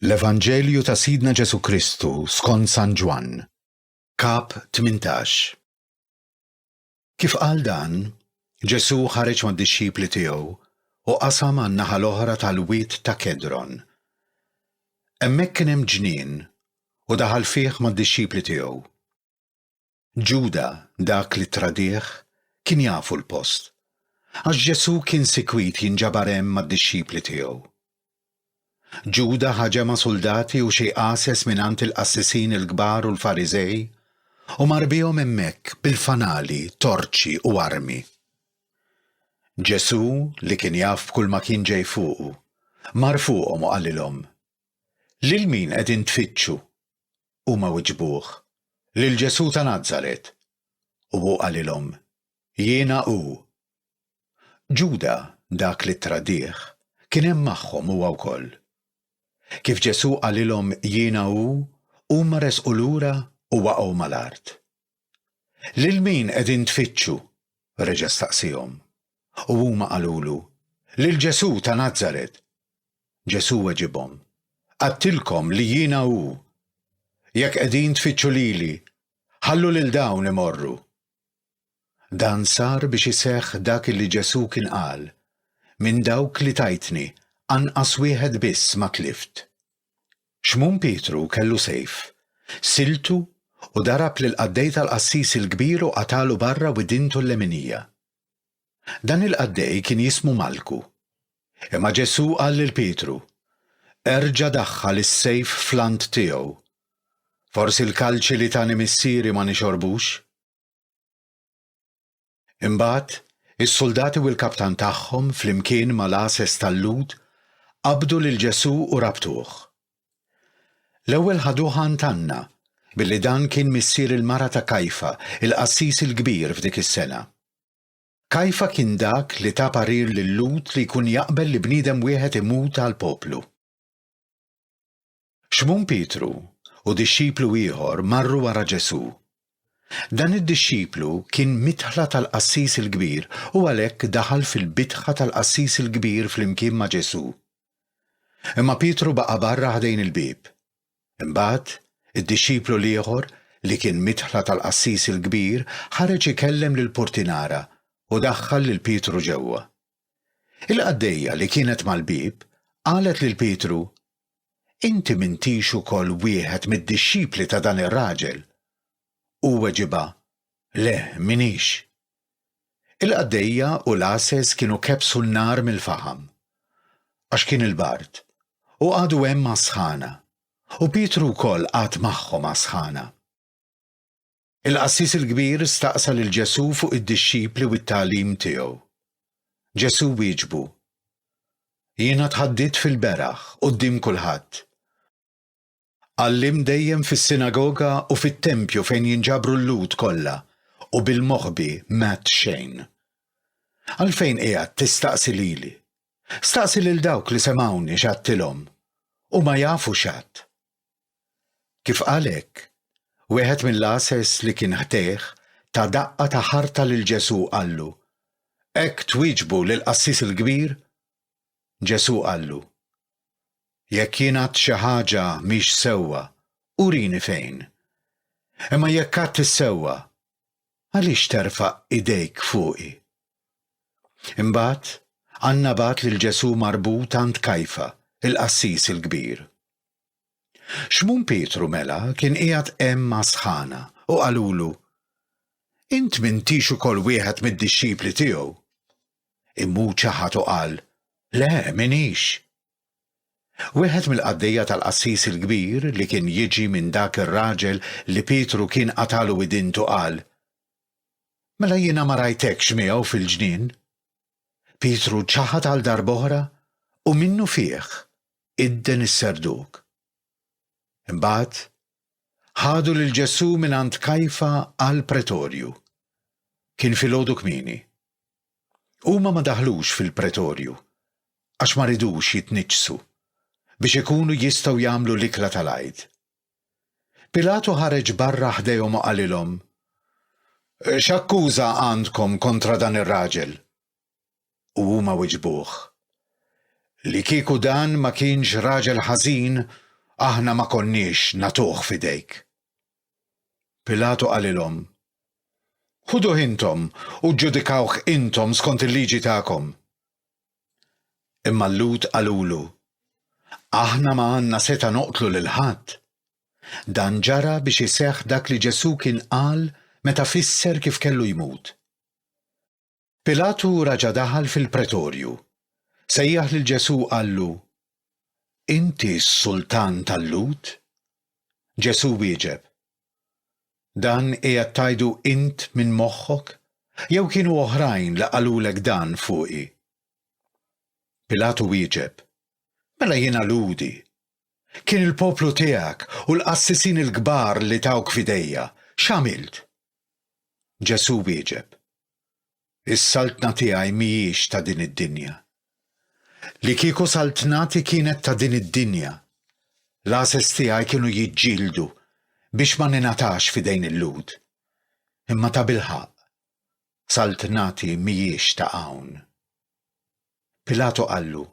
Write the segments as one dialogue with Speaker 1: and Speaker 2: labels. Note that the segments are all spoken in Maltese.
Speaker 1: L-Evanġelju ta' Sidna Ġesù Kristu skont San Ġwann, Kap 18. Kif qal dan, Ġesù ħareġ mad-dixxipli tiegħu u qasam għan-naħa l-oħra tal-Wied ta' Kedron. Hemmhekk kien hemm ġnien u daħal fih mad-dixxipli tiegħu. Ġuda, dak li tradih, kien jafu l-post, għax Ġesù kien sikwit jinġabar hemm mad-dixxipli tiegħu. Ġuda ħa ġemgħa suldati u xi għases mingħand il-qassisin il-kbar u l-Fariżej u mar bihom hemmhekk bil-fanali, torċi u armi. Ġesù, li kien jaf b'kulma kien ġej fuqu, mar fuqhom u qalilhom, Lil min qegħdin tfittxu? Huma wiġbuh, Lil Ġesù ta' Nazaret. U hu qalilhom, Jiena hu. Ġuda, dak li ttradih, kien hemm magħhom huwa wkoll. Kif Ġesù qalilhom Jiena hu, huma resqu lura u waqgħu mal-art. Lil min qegħdin tfittxu? reġa' staqsiehom. U huma qalulu, Lil Ġesù ta' Nazaret. Ġesù weġibhom, Għedtilkom li jiena hu. Jekk qegħdin tfittxu lili, ħallu lil dawn imorru. Dan sar biex iseħħ dak illi Ġesù kien qal, Minn dawk li tajtni, anqas wieħed biss ma tlift. Xmun Pietru kellu sejf, siltu u darab lill-qaddej tal-qassis il-kbir u qatagħlu barra widintu l-leminija. Dan il-qaddej kien jismu Malku. Imma Ġesù qal lil Pietru, Erġa' daħħal is-sejf fl-għand tiegħu. Forsi l-kalċi li tani Missieri ma nixorbux? Imbagħad, is-suldati u l-kaptan tagħhom, flimkien mal-għases tal-Lhud, qabdu lil Ġesù u rabtuh. L-ewwel ħaduh għand Anna, billi dan kien missier il-mara ta' Kajfa, il-qassis il-kbir f'dik is-sena. Kajfa kien dak li ta parir lil-Lhud li jkun jaqbel li bniedem wieħed imut għall-poplu. Xmun Pietru u dixxiplu ieħor marru wara Ġesù. Dan id-dixxiplu kien midħla tal-qassis il-kbir u għalhekk daħal fil-bitħa tal-qassis il-kbir flimkien ma' Ġesù. Imma Pietru baqa' barra ħdejn il-bieb. Imbagħad, id-dixxiplu l-ieħor, li kien midħla tal-qassis il-kbir, ħareġ ikellem lill-purtinara u daħħal lil Pietru ġewwa. Il-qaddejja li kienet mal-bieb qalet lil Pietru, Inti m'intix ukoll wieħed mid-dixxipli ta' dan ir-raġel? Hu weġibha, Le, m'iniex. Il-qaddejja u l-għases kienu kebbsu n-nar mill-faħam. Għax kien il-bard, u qagħdu hemm għas-sħana, u Pietru wkoll qagħad magħhom għas-sħana. Il-qassis il-kbir staqsa lil Ġesù fuq id-dixxipli u t-tagħlim tiegħu. Ġesù wieġbu, Jiena tħaddidt fil-beraħ quddiem kulħadd. Għallimt dejjem fis-sinagoga u fit-tempju fejn jinġabru l-Lhud kollha u bil-moħbi m'għedt xejn. Għalfejn qiegħed tistaqsi lili? Staqsi lil dawk li semgħuni x'għadtilhom. Huma jafu x'għadt. Kif qal hekk, wieħed mill-għases li kien ħdejh ta daqqa ta' ħarta lil Ġesù qallu, Hekk twieġbu lill-qassis il-kbir? Ġesù qallu, Jekk jien għadt xi ħaġa mhix sewwa, urini fejn. Imma jekk għadt is-sewwa, għaliex terfa' idejk fuqi? Imbagħad, Anna bagħat lil Ġesù marbut għand Kajfa, il-qassis il-kbir. Xmun Pietru mela kien qiegħed hemm mas-sħana u qalulu, Int m'intix ukoll wieħed mid-dixxipli tiegħu? Immu ċaħad u qal, Le, m'inix. Wieħed mill-qaddejja tal-qassis il-kbir li kien jiġi minn dak ir-raġel li Pietru kien qatagħlu idintu qal, Mela jiena ma rajtekx miegħu fil-ġnien? Pietru ċaħad għal darb'oħra u minnufih idden is-serduk. Imbagħad, ħadu lil Ġesù mingħand Kajfa għall-pretorju. Kien filgħodu kmieni. Huma ma daħlux fil-pretorju għax ma ridux jitniġġsu biex ikunu jistgħu jagħmlu l-ikla tal-Għid. Pilatu ħareġ barra ħdejhom u qalilhom, X'akkuża għandkom kontra dan ir-raġel? u huma wiġbuh, Li kieku dan ma kienx raġel ħażin, aħna ma konniex nagħtuh f'idejk. Pilatu qalilhom, Ħuduh intom u ġġudikawh intom skont il-liġi tagħkom. Imma l-Lhud qalulu, Aħna ma għandna setgħa noqtlu lil ħadd. Dan ġara biex iseħħ dak li Ġesù kien qal meta fisser kif kellu jmut, Pilatu raġa' daħal fil-Pretorju, sejjaħ lil Ġesù u qallu, Inti s-Sultan tal-Lhud? Ġesù wieġeb, Dan qiegħed tgħidu int minn moħħok, jew kienu oħrajn li qalulek dan fuqi? Pilatu wieġeb, Mela jiena Lhudi, Kien il-poplu tiegħek u l-qassisin il-kbar li tawk f'idejja. X'għamilt? Ġesù wieġeb, Is-saltna tiegħi mhijiex ta' din id-dinja. Li kieku saltnati kienet ta' din id-dinja, l-għases tiegħi kienu jiġġieldu biex ma ningħatax f'idejn il-Lhud. Imma tabilħaqq, saltnati mhijiex ta' hawn. Pilatu qallu,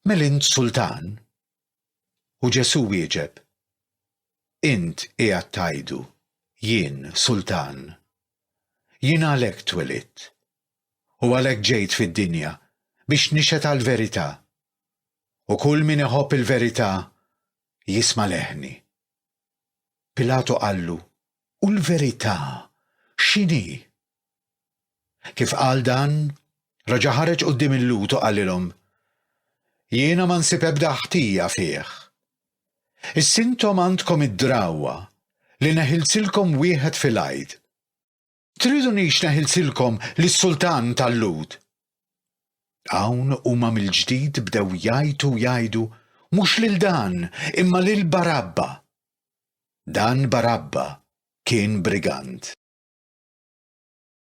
Speaker 1: Mel int sultan? U Ġesù wieġeb, Int qiegħed tgħidu, Jien sultan. Jien għalhekk twelidt, u għalhekk ġejt fid-dinja biex nixhed għall-verità, u kull min iħobb il-verità jisma' leħni. Pilatu qallu, U l-verità x'inhi? Kif qal dan, reġa' ħareġ quddiem il-Lhud u qalilhom, Jiena ma nsib ebda ħtija fih. Issa intom għandkom id-drawwa li neħilsilkom wieħed fil-għid. Tridunix neħilsilkom lis-sultan tal-Lhud? Hawn huma mill-ġdid bdew jgħajtu u jgħidu, Mhux lil dan, imma lil Barabba! Dan Barabba kien brigand.